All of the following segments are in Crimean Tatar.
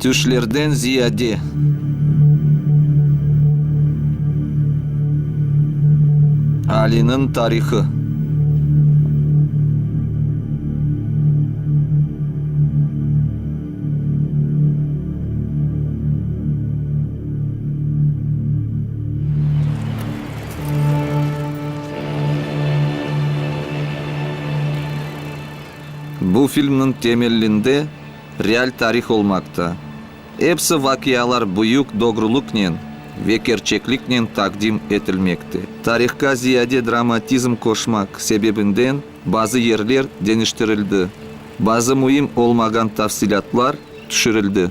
Tüşlerden ziyade. Aliniñ tarihı. Bu filmniñ temellinde real tarih olmaqta. Episi vaqialar büyük doğrulıqnen ve kerçekliknen taqdim etilmekte. Tarihqa ziyade dramatizm qoşmaq sebebinden bazı yerler deñiştirildi, bazı müim olmağan tafsilâtlar tüşürildi.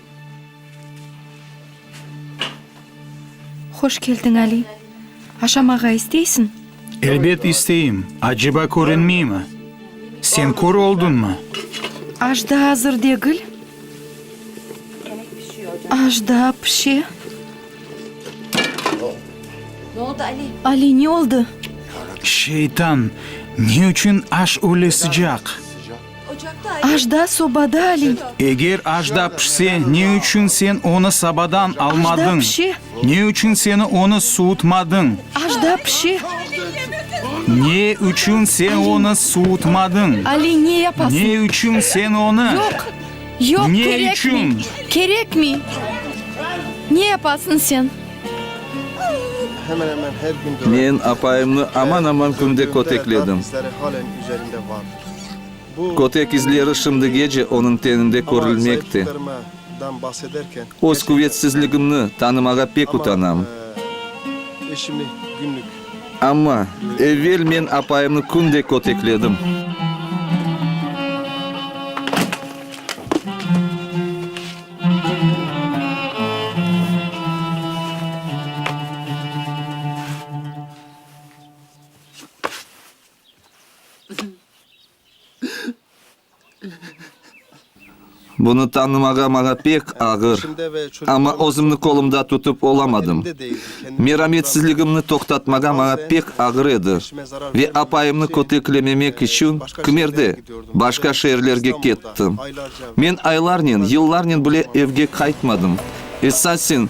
Hoş keldiñ, Ali. Aşamağa isteysiñ? Elbet isteyim. Aceba körünmeymi? Sen kör olduñmı? Ajda azır degil. Ajda pişe. Ali, ne oldu? Şeytan! Ne içün aş öyle sıcaq? Ajda sobada aliy. Eger ajda pişse, ne içün sen onı sabadan almadıñ? Ne içün seni onı suutmadıñ? Ajda pişe. Ne içün sen onı suutmadıñ? Aliy, ne yapasıñ? Ne içün sen onı? Yoq, yoq, kerekmiy. Ne içün? Kerekmiy. Ne yapasıñ sen? Men apayımnı aman-aman künde kötekledim. Kötek izleri şimdigece onıñ teninde körülmekte. Öz quvetsizligimni tanımağa pek utanam. Amma, evvel men apayımnı künde kötekledim. Bunı tanımağa maña pek ağır, amma özümni qolumda tutıp olamadım. Merametsizligimni toqtatmağa maña pek ağır edi ve apayımnı köteklememek içün Kmerde, başqa şeerlerge kettim. Men aylarnen, yıllarnen bile evge qaytmadım. Esasen,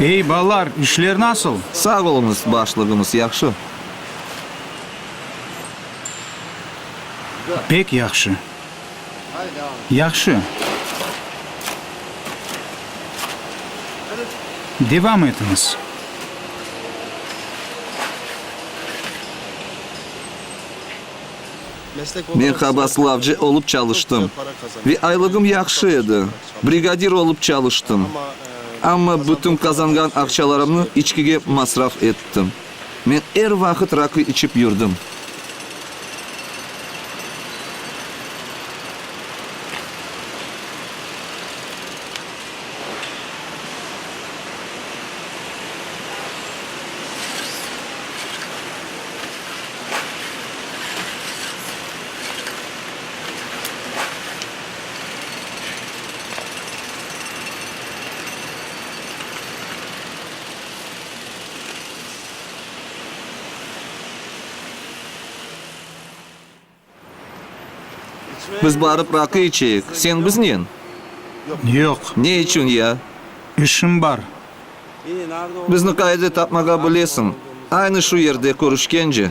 Ey, balalar, işler nasıl? Sağ oluñız, başlığımız, yahşı. Pek yahşı. Yahşı. Devam etiñiz. Men qabaatlavcı olıp çalıştım ve aylığım yahşı edi. Brigadir olıp çalıştım. Amma bütün qazanğan aqçalarımnı içkige masraf ettim. Men er vaqıt rakı içip yürdim. Biz barıp raqı içeyik, sen biznen? Yoq. Ne içün ya? İşim bar. Bizni qayda tapmağa bilesiñ? Aynı şu yerde körüşkence.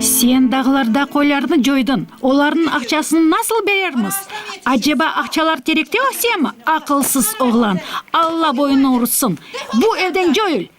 Sen dağlarda qoylarnı coydın, olarnıñ aqçasını nasıl berermiz? Aceba aqçalar terekte ösemi, aqılsız oğlan? Alla boyunıñ rutsın! Bu evden coyul!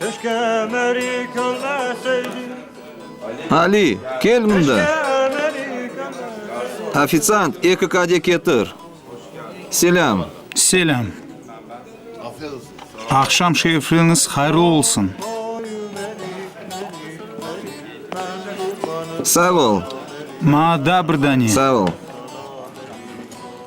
Keşke meri körmeseydim. Ali, kel mında! Ofitsiant, eki kade ketir. Selâm. Selâm. Aqşam şerifliñiz hayırlı olsun. Sağ ol. Maña da bir dane. Sağ ol.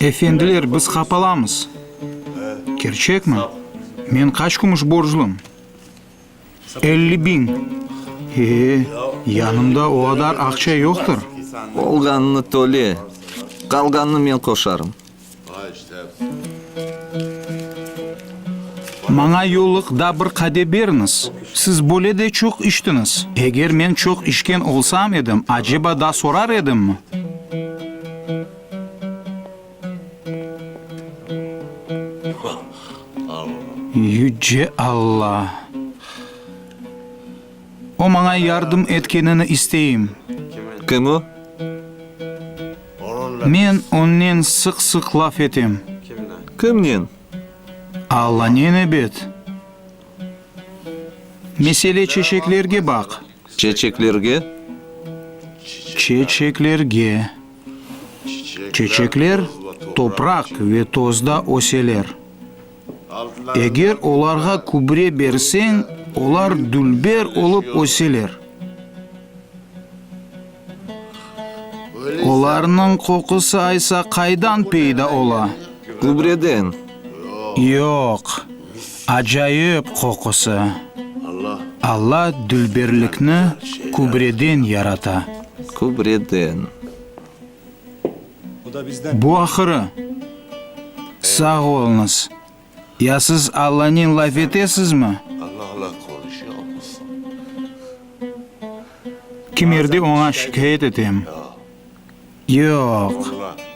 Efendiler, biz qapalamız. Kerçekmi? Men qaç kümüş borclum? Elli biñ. Ee, yanımda o qadar aqça yoqtır. Olğanını töle, qalğanını men qoşarım. Maña yollıq da bir qade beriñiz. Siz böyle de çoq içtiñiz. Eger men çoq içken olsam edim, aceba da sorar edimmi? Yüce Alla! O maña yardım etkenini isteyim. Kim o? Men onnen sıq-sıq laf etem. Kimnen? Allanen ebet. Mesele çeçeklerge baq. Çeçeklerge? Çeçeklerge. Çeçekler topraq ve tozda öseler. Eger olarğa kübre berseñ, olar dülber olıp öseler. Olarnıñ qoqusı aysa qaydan peyda ola? Kübreden. Yoq, acayip qoqusı. Alla dülberlikni kübreden yarata. Kübreden. Bu ahırı. Sağ olunız. Ya siz Allanen laf etesizmi? Kimerde oña şikâyet etem. Yoq,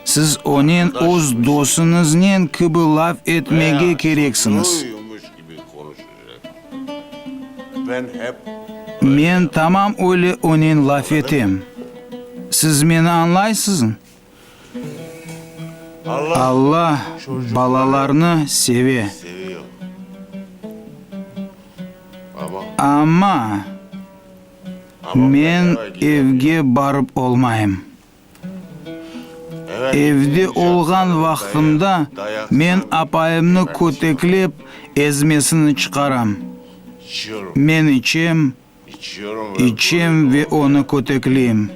siz onen öz dosuñıznen kibi laf etmege kereksiñiz. Men tamam öyle onen laf etem. Siz meni añlaysızm? Alla balalarnı seve. Amma men evge barıp olmayım. Evde olğan vaqtımda men apayımnı köteklep, ezmesini çıqaram. Men içem, içem ve onı kötekleyim.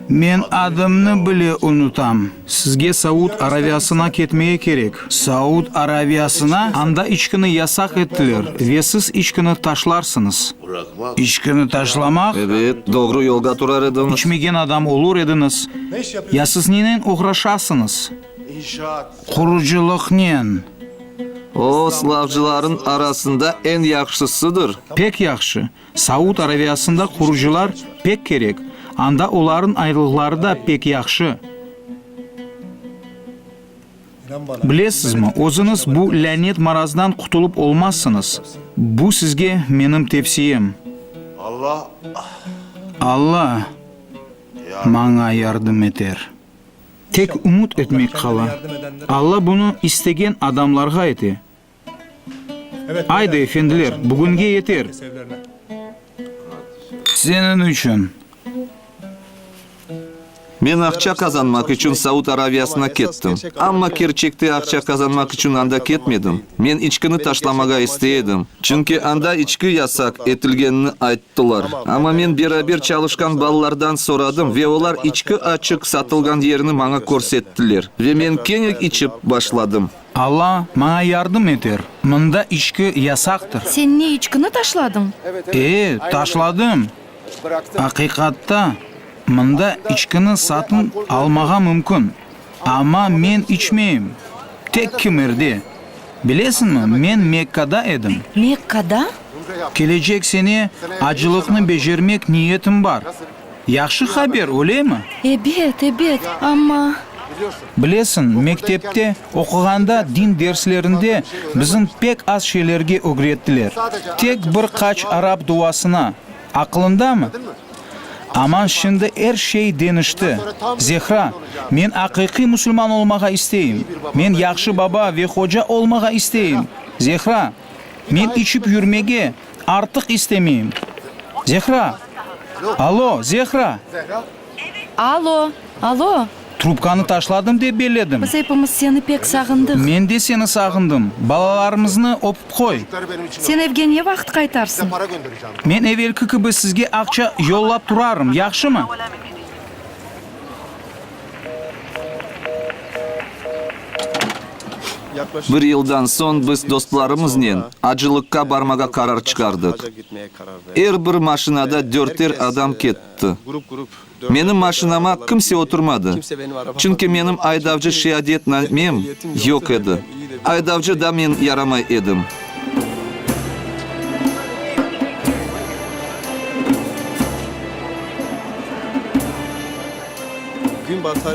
Men adımnı bile unutam. Sizge Saud Araviyasına ketmege kerek. Saud Araviyasına, Anda içkini yasaq ettiler ve siz içkini taşlarsıñız. İçkini taşlamaq? Evet, doğru yolda turar ediñiz. İçmegen adam olur ediñiz. Ya siz nenen oğraşasıñız? Qurucılıqnen. O, slavcılarnıñ arasında eñ yahşısıdır. Pek yahşı. Saud Araviyasında qurucılar pek kerek. Anda olarnıñ aylıqları da pek yahşı. Bilesizmi, özüniz bu lânet marazdan qutulıp olmazsıñız. Bu sizge menim tevsiyem. Alla maña yardım eter. Tek ümüt etmek qala. Alla bunı istegen adamlarğa ete. Aydı, efendiler, bugünge yeter! Seniñ içün! Men aqça qazanmaq içün Saud Araviyasına kettim. Amma kerçekte aqça qazanmaq içün anda ketmedim. Men içkini taşlamağa istey edim. Çünki anda içki yasaq etilgenini ayttılar. Amma men beraber çalışqan balalardan soradım ve olar içki açıq satılğan yerini maña körsettiler. Ve men keñek içip başladım. Alla maña yardım eter, mında içki yasaqtır. Sen ne, içkini taşladıñ? E, taşladım. Aqiqatta, mında içkini satın almağa mümkün, amma men içmeyim, tek kimerde. Bilesiñmi, men Mekkada edim. Mekkada? Kelecek sene acılıqnı becermek niyetim bar. Yahşı haber, ölemi? Ebet, ebet, amma. Bilesiñ, mektepte oquğanda din derslerinde bizim pek az şeylerge ögrettiler, tek bir qaç arap duasına, aqlıñdamı? Aman şimdi er şey denişti, Zehra, men aqiqiy musulman olmağa isteyim, men yahşı baba ve hoca olmağa isteyim, Zehra, men içip yürmege, Artıq istemeyim. Zehra! Alo, Zehra! Alo, alo! Trubkanı taşladım dep belledim. Biz epimiz seni pek sağındıq. Men de seni sağındım. Balalarımıznı öpip qoy. Sen evge ne vaqıt qaytarsıñ? Men evelki kibi sizge aqça yollap turarım, yahşımı? Bir yıldan soñ biz dostlarımıznen acılıqqa barmağa qarar çıqardıq. Er bir maşinada dörter adam ketti. Menim maşinama kimse oturmadı, çünki menim aydavcı şeadetnamem yoq edi. Aydavcı da men yaramay edim.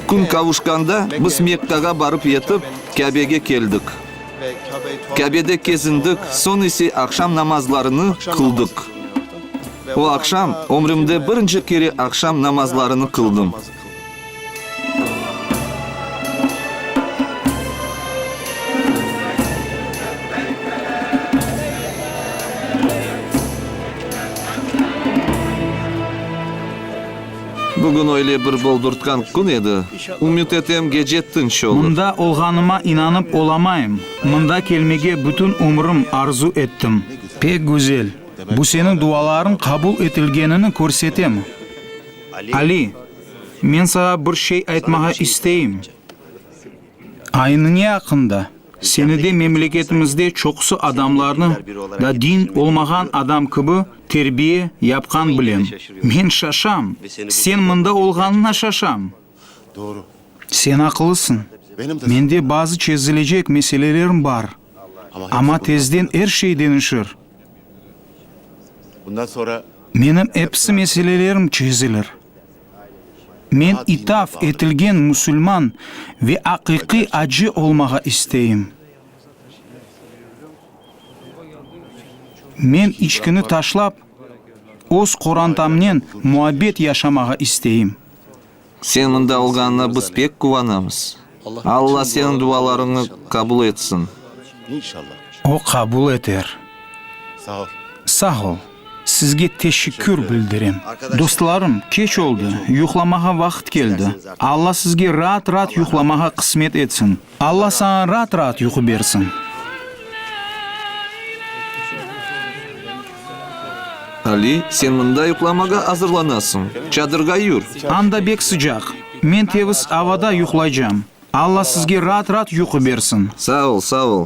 Kün qavuşqanda biz Mekkağa barıp yetip, Kâbege keldik. Kâbede kezindik, soñ ise aqşam namazlarını qıldıq. O aqşam ömrümde birinci kere aqşam namazlarını qıldım. Bugün öyle bir boldurtqan kün edi, ümüt etem, gece tınç olur. Mında olğanıma inanıp olamayım. Mında kelmege bütün ömrüm arzu ettim. Pek güzel. Bu seniñ dualarıñ qabul etilgenini körsetemi? Ali, men sağa bir şey aytmağa isteyim. Aynıñe aqqında, seni de memleketimizde çoqusı adamlarnı da din olmağan adam kibi terbiye yapqan bilem. Men şaşam, sen mında olğanına şaşam. Sen aqlısıñ, mende bazı çezilecek meselelerim bar, amma tezden er şey deñişir. Menim episi meselelerim çezilir. Men itaf etilgen musulman ve aqiqiy acı olmağa isteyim. Men içkini taşlap, öz qorantamnen muabbet yaşamağa isteyim. Sen mında olğanına biz pek quvanamız. Alla seniñ dualarıñnı qabul etsin. O qabul eter. Sağ ol. Sizge teşekkür bildirem. Dostlarım, keç oldı, yuqlamağa vaqıt keldi. Alla sizge raat-raat yuqlamağa qısmet etsin. Alla saña raat-raat yuqu bersin. Ali, sen mında yuqlamağa azırlanasıñ. Çadırğa yür. Anda bek sıcaq. Men teviz avada yuqlaycam. Alla sizge raat-raat yuqu bersin. Sağ ol, sağ ol.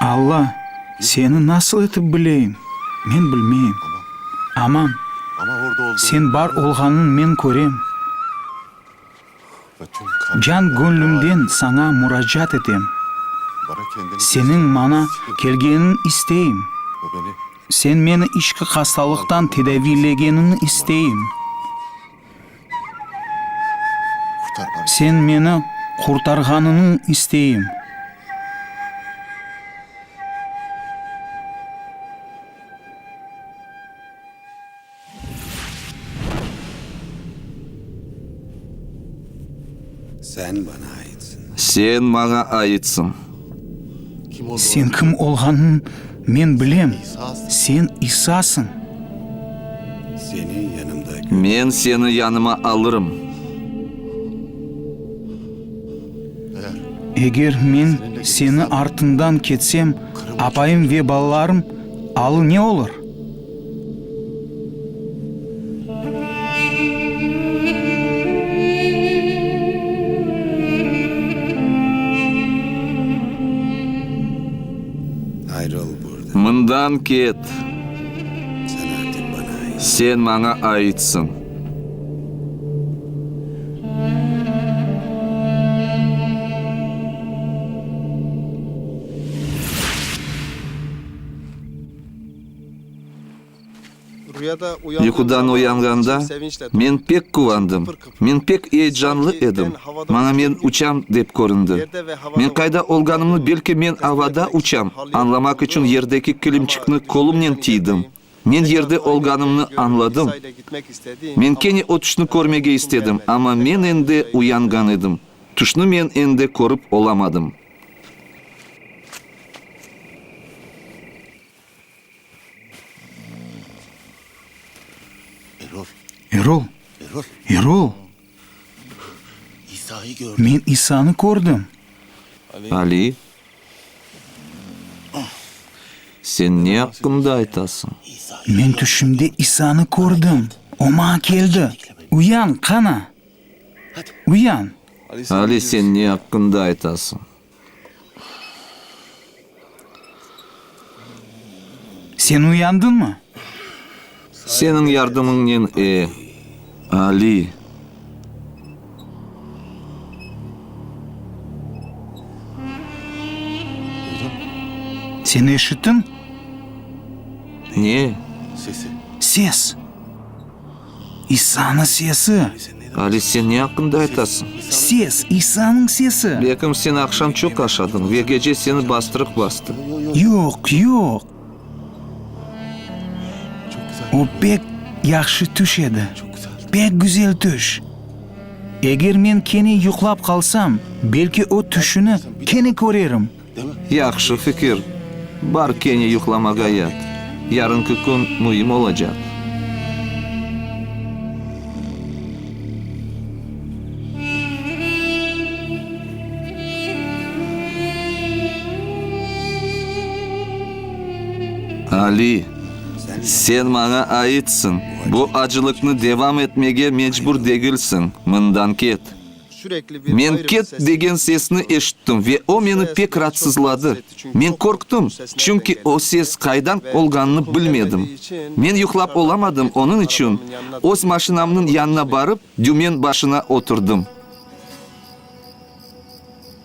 Alla, seni nasıl etip bileyim, men bilmeyim. Amma Sen bar olğanıñ men körem. Can-köñlümden Saña muracaat etem. Seniñ maña kelgeniñ isteyim. Sen meni içki hastalıqtan tedaviylegeniñ isteyim. Sen meni qurtarğanıñı isteyim. Sen bana aitsın. Sen bana aitsın. Sen kim olğanın men bilem, sen İsasıñ. Men seni yanıma alırım. Eger men seni artıñdan ketsem, apayım ve balalarım alı ne olur? Mından ket! Sen maña aitsıñ. Yuqudan oyanğanda, men pek quvandım, men pek eyecanlı edim, maña men uçam, dep köründi. Men qayda olğanımnı, belki men avada uçam, añlamaq içün yerdeki kilimçikni qolumnen tiydim. Men yerde olğanımnı añladım. Men kene o tüşni körmege istedim, amma men endi uyanğan edim, tüşni men endi körip olamadım. Erol! Erol! Men İsanı kördim! Ali, sen ne aqqında aytasıñ? Men tüşümde İsanı kördim, O maña keldi. Uyan, qana! Uyan! Ali, sen ne aqqında aytasıñ? Sen uyandınmı? Seniñ yardımıñnen, e, Ali. Sen eşittin? Ne? Ses. İsanıñ sesi! Ali, sen ne aqqında aytasıñ? Ses, İsanıñ sesi! Belkim, sen aqşam çoq aşadıñ ve gece seni bastırıq bastı. Yoq, yoq. O pek yahşı tüş edi, pek güzel tüş. Eger men kene yuqlap qalsam, belki o tüşüni kene körerim. Yahşı fikir, bar kene yuqlamağa yat, yarınki kün müim olacaq. Ali, sen maña aitsiñ, bu acılıqnı devam etmege mecbur degilsiñ, mından ket. Men ket degen sesni eşittim ve o meni pek ratsızladı. Men qorqtım, çünki o ses qaydan olğanını bilmedim. Men yuqlap olamadım, onıñ içün öz maşinamnıñ yanına barıp, dümen başına oturdım.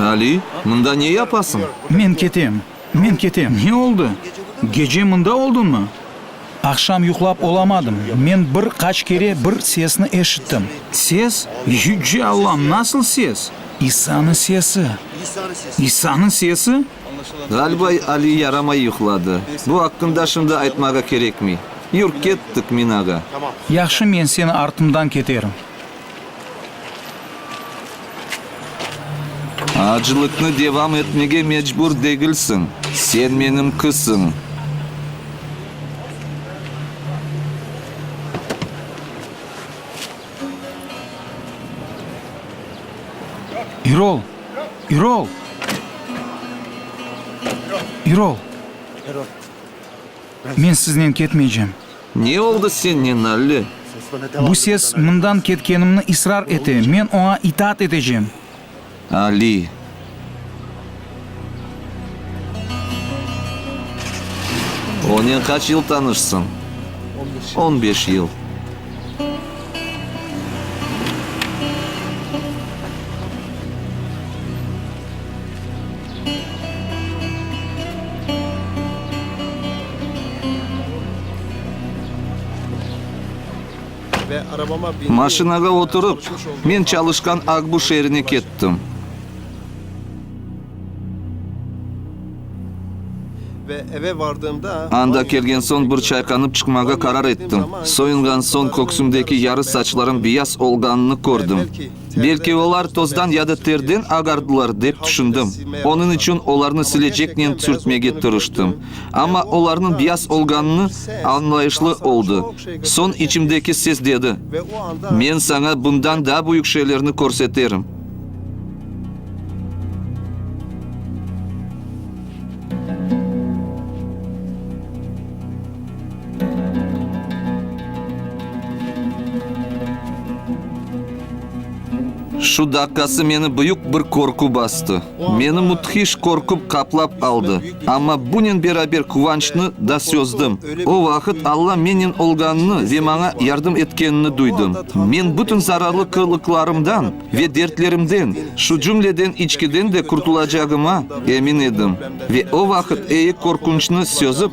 Ali, mında ne yapasıñ? Men ketem, men ketem. Ne oldı? Gece mında oldunmı? Aqşam yuqlap olamadım. Men bir qaç kere bir sesni eşittim. Ses? Yüce Allam, nasıl ses? İsanı sesi. İsanı sesi? Ğaliba Ali yaramay yuqladı. Bu aqqında şimdi aytmağa kerekmey. Yur, kettik, minaga! Yahşı, men seni artımdan keterim. Acılıqnı devam etmege mecbur degilsiñ, sen menim qızım. İrol! İrol! İrol! Men siznen ketmeycem. Ne oldı sennen, Alli? Bu ses mından ketkenimni israr ete, men oña itaat etecem. Alli. Onen qaç yıl tanışsıñ? On beş yıl. Maşinağa oturıp, men çalışqan Akbu şeerine kettim. Anda kelgen soñ bir çayqanıp çıqmağa qarar ettim. Soyunğan soñ köksümdeki yarı saçlarım biyaz olğanını kördim. Belki olar tozdan ya da terden ağardılar, dep tüşündim. Onıñ içün olarnı sileceknen tüşürtmege tırıştım. Amma olarnıñ biyaz olğanını añlayışlı oldı. Soñ içimdeki ses dedi, Men saña bundan daa büyük şeylerni körseterim. Şu daqqası meni büyük bir qorqu bastı. Meni müthiş qorquv qaplap aldı. Amma bunen beraber quvançnı da sözdim. O vaqıt Alla mennen olğanını ve maña yardım etkenini duydım. Men bütün zararlı qırlıqlarımdan ve dertlerimden, şu cümleden içkiden de qurtulacağıma emin edim. Ve o vaqıt ey qorqunçnı sözip,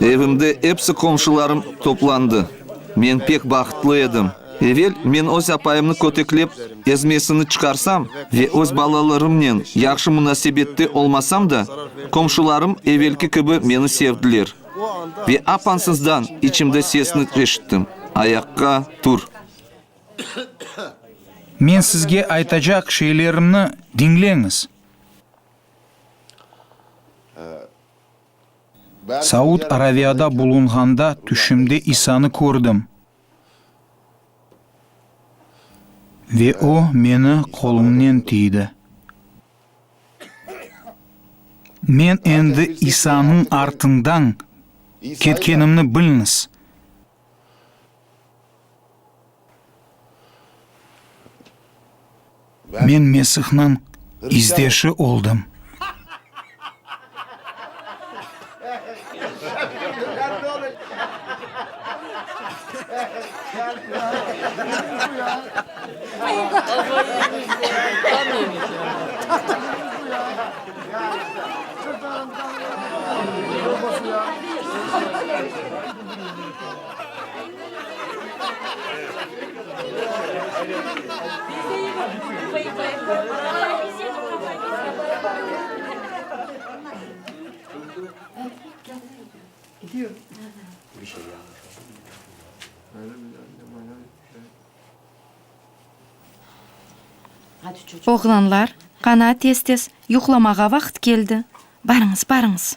Evimde epsi qomşularım toplandı. Men pek bahıtlı edim. Evel men öz apayımnı köteklep ezmesini çıqarsam ve öz balalarımnen yahşı munasebette olmasam da, qomşularım evelki kibi meni sevdiler. Ve apansızdan içimde sesni eşittim, ayaqqa tur! Men sizge aytacaq şeylerimni diñleñiz. Saud Araviyada bulunğanda tüşümde İsanı kördim ve O meni qolumnen tiydi. Men endi İsanıñ artından ketkenimni bilñiz. Men Mesihniñ izdeşi oldım. Oğlanlar, qanaa tez-tez, yuqlamağa vaqıt keldi, barıñız, barıñız!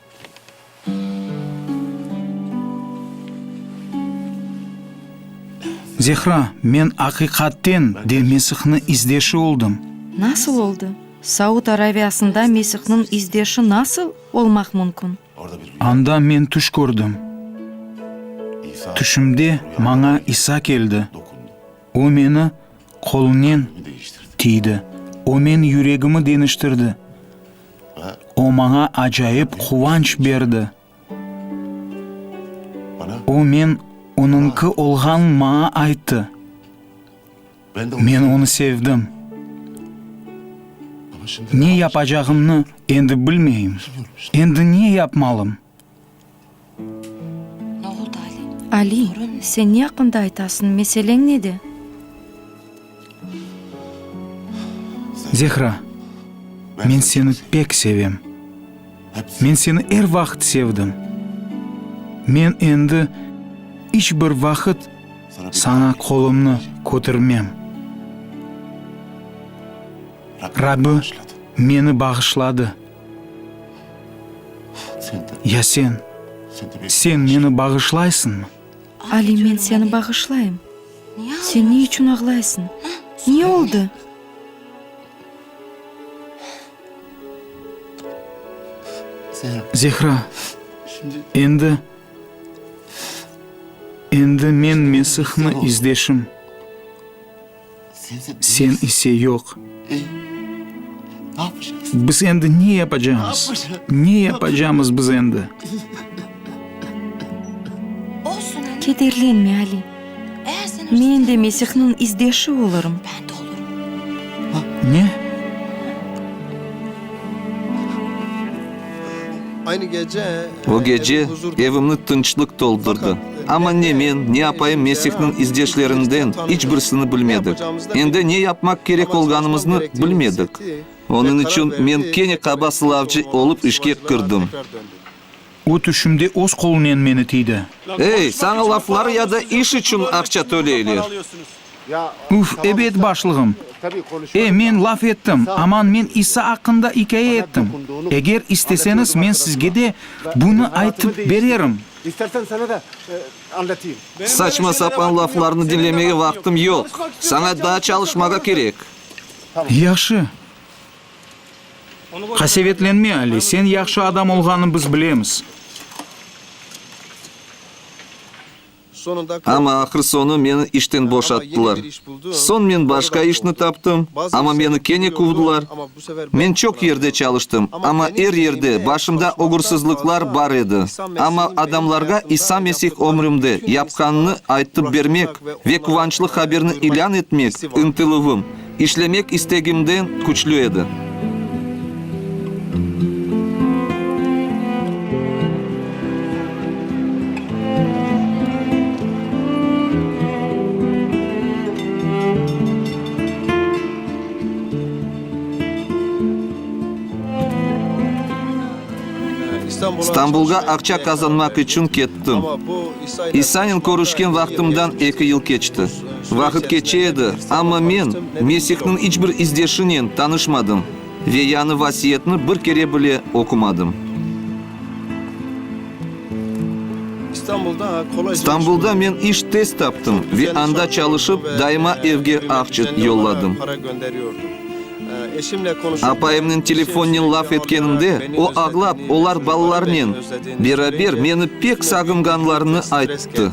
Zehra, men aqiqaten de Mesihni izdeşi oldım. Nasıl oldı? Saud Araviyasında Mesihniñ izdeşi nasıl olmaq mümkün? Anda men tüş kördim. Tüşümde maña İsa keldi. O meni qolunen tiydi. O men yüregimi deñiştirdi. O maña acayip quvanç berdi. O men onıñki olğanın maña ayttı. Men onı sevdim. Ne yapacağımnı endi bilmeyim. Endi ne yapmalım? Ali, sen ne aqqında aytasıñ, meseleñ nede? Zehra, men seni pek sevem. Men seni er vaqıt sevdim. Men endi iç bir vaqıt saña qolumnı kötermem. Rabbi meni bağışladı. Ya sen? Sen meni bağışlaysıñmı? Ali, men seni bağışlayım. Sen ne içün ağlaysıñ? Ne oldı? Zehra, endi, endi men Mesihni izdeşim. Sen ise yoq. Biz endi ne yapacamız? Ne yapacamız biz endi? Kederlenme, Ali. Men de Mesihniñ izdeşi olurım. Ne? O gece evimni tınçlıq toldurdı. Amma ne men, ne apayım Mesihniñ izdeşlerinden iç birsini bilmedik. Endi ne yapmaq kerek olğanımıznı bilmedik. Onıñ içün men kene qaba sılavcı olıp işke kirdim. O tüşümde öz qolunen meni tiydi. Ey, saña laflar ya da iş içün aqça töleyler. Üf, ebet, başlığım! E, men laf ettim, aman men İsa aqqında ikâye ettim. Eger isteseñiz, men sizge de bunı aytıp bererim. Saçma-sapan laflarnı diñlemege vaqtım yoq. Saña daa çalışmağa kerek. Yahşı. Qasevetlenme, Ali, sen yahşı adam olğanı biz bilemiz. Amma ahır-soñu meni işten boşattılar. Soñ men başqa işni taptım, amma meni kene quvdılar. Men çoq yerde çalıştım, amma er yerde başımda oğursızlıqlar bar edi. Amma adamlarğa İsa Mesih ömrümde yapqanını aytıp bermek ve quvançlı haberni ilân etmek ıntıluvım, İşlemek istegimden küçlü edi. İstanbulğa aqça qazanmaq içün kettim. İsanen körüşken vaqtımdan eki yıl keçti. Vaqıt keçe edi, amma men Mesihniñ iç bir izdeşinen tanışmadım ve yañı vasiyetni bir kere bile oqumadım. Stambulda men iş tez taptım ve anda çalışıp daima evge ahçıt yolladım. Apayımnen telefonnen laf etkenimde, o ağlap, olar balalarnen beraber meni pek sağınğanlarını ayttı.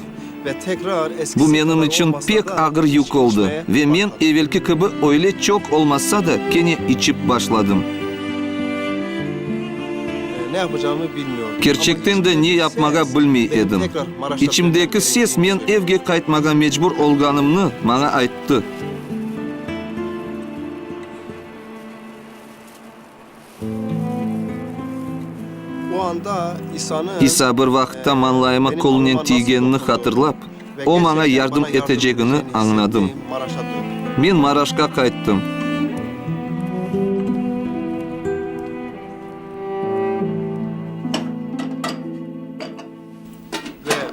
Bu menim içün pek ağır yük oldı ve men evelki kibi öyle çoq olmasa da, kene içip başladım. Kerçekten de ne yapmağa bilmey edim. İçimdeki ses men evge qaytmağa mecbur olğanımnı maña ayttı. O anda İsanı. İsa bir vaqıtta mañlayıma qolunen tiygenini hatırlap, o maña yardım etecegini añladım. Men Maraşqa qayttım.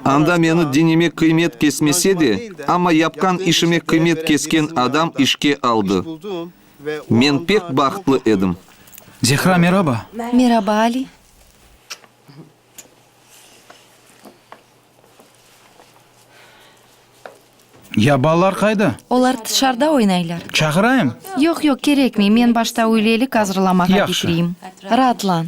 Anda meni dinime qıymet kesmese de, amma yapqan işime qıymet kesken adam işke aldı. Men pek bahtlı edim. Zehra, meraba! Meraba, Ali! Ya balalar qayda? Olar tışarda oynaylar. Çağırayım? Yoq, yoq, kerekmey, men başta üylelik azırlamağa Yahşı. bitireyim. Raatlan.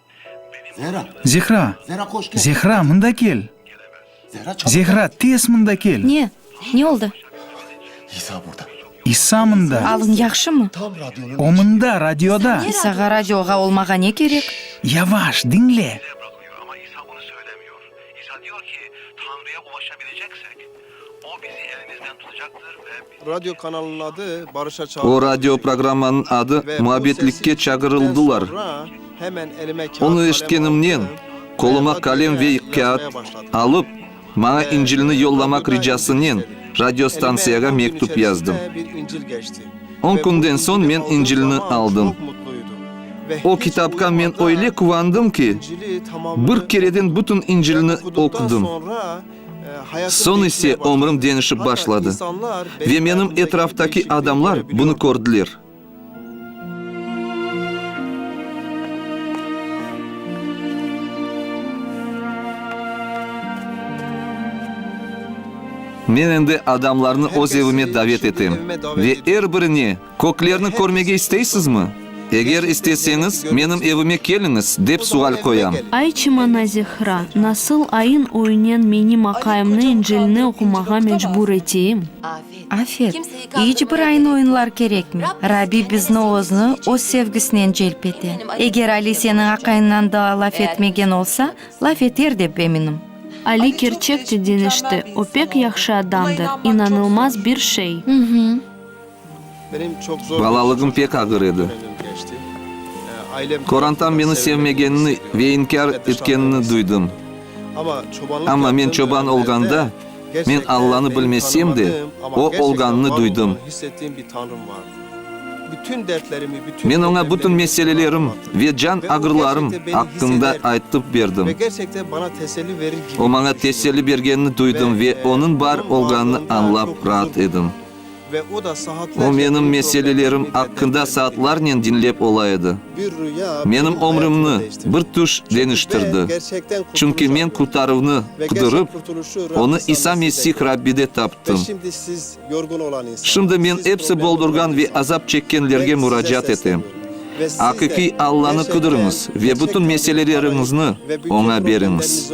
Zehra! Zehra, mında kel! Zehra, tez mında kel! Ne? Ne oldı? İsa mında! Alıñ yahşımı? O mında, radioda! İsağa radioğa olmağa ne kerek? Yavaş, diñle! O bizi elimizden tutacaqtır ve bizi. Radio kanalınıñ adı barışa çağırdı. O radio programmanıñ adı Muabbetlikke çağırıldılar. Ve bu sesi eşittikten soñra hemen elime kâğıt, qalem. Onı eşitkenimnen, qoluma qalem ve kâğıt alıp, maña İncilni yollamaq ricasınen radio stantsiyağa mektüp yazdım. On künden soñ men İncilni aldım. O kitapqa men öyle quvandım ki, bir kereden bütün İncilni oqudım. Soñ ise ömrüm deñişip başladı. Ve menim etraftaki adamlar bunı kördiler. Men endi adamlarnı öz evime davet etem ve er birine Köklerni körmege isteysizmi? Eger isteseñiz, menim evime keliñiz, dep sual qoyam. Ay çımana Zehra, nasıl ayın ögünen menim aqayımnı İncilni oqumağa mecbur eteyim? Afet, iç bir ayın ögünlar kerekmey. Rabbi bizni Özni, Öz sevgisinen celp ete. Eger Ali seniñ aqayıñnan daa laf etmegen olsa, laf eter dep eminim. Ali kerçek de deñişti, o pek yahşı adamdır, inanılmaz bir şey. Balalığım pek ağır edi. Qorantam meni sevmegenini ve inkâr etkenini duydım. Amma men çoban olğanda, men Allanı bilmesem de, O olğanını duydım. Men oña bütün meselelerim ve can ağrılarım aqqında aytıp berdim. O maña teselli bergenini duydım ve onıñ bar olğanını añlap raat edim. O menim meselelerim aqqında saatlarnen diñlep ola edi. Menim ömrümni bir tüş deñiştirdi, çünki men qurtaruvnı qudurıp, onı İsa Mesih Rabbide taptım. Şimdi men epsi boldurğan ve azap çekkenlerge muracaat etem, Aqiqiy Allanı qudurıñız ve bütün meseleleriñizni Oña beriñiz.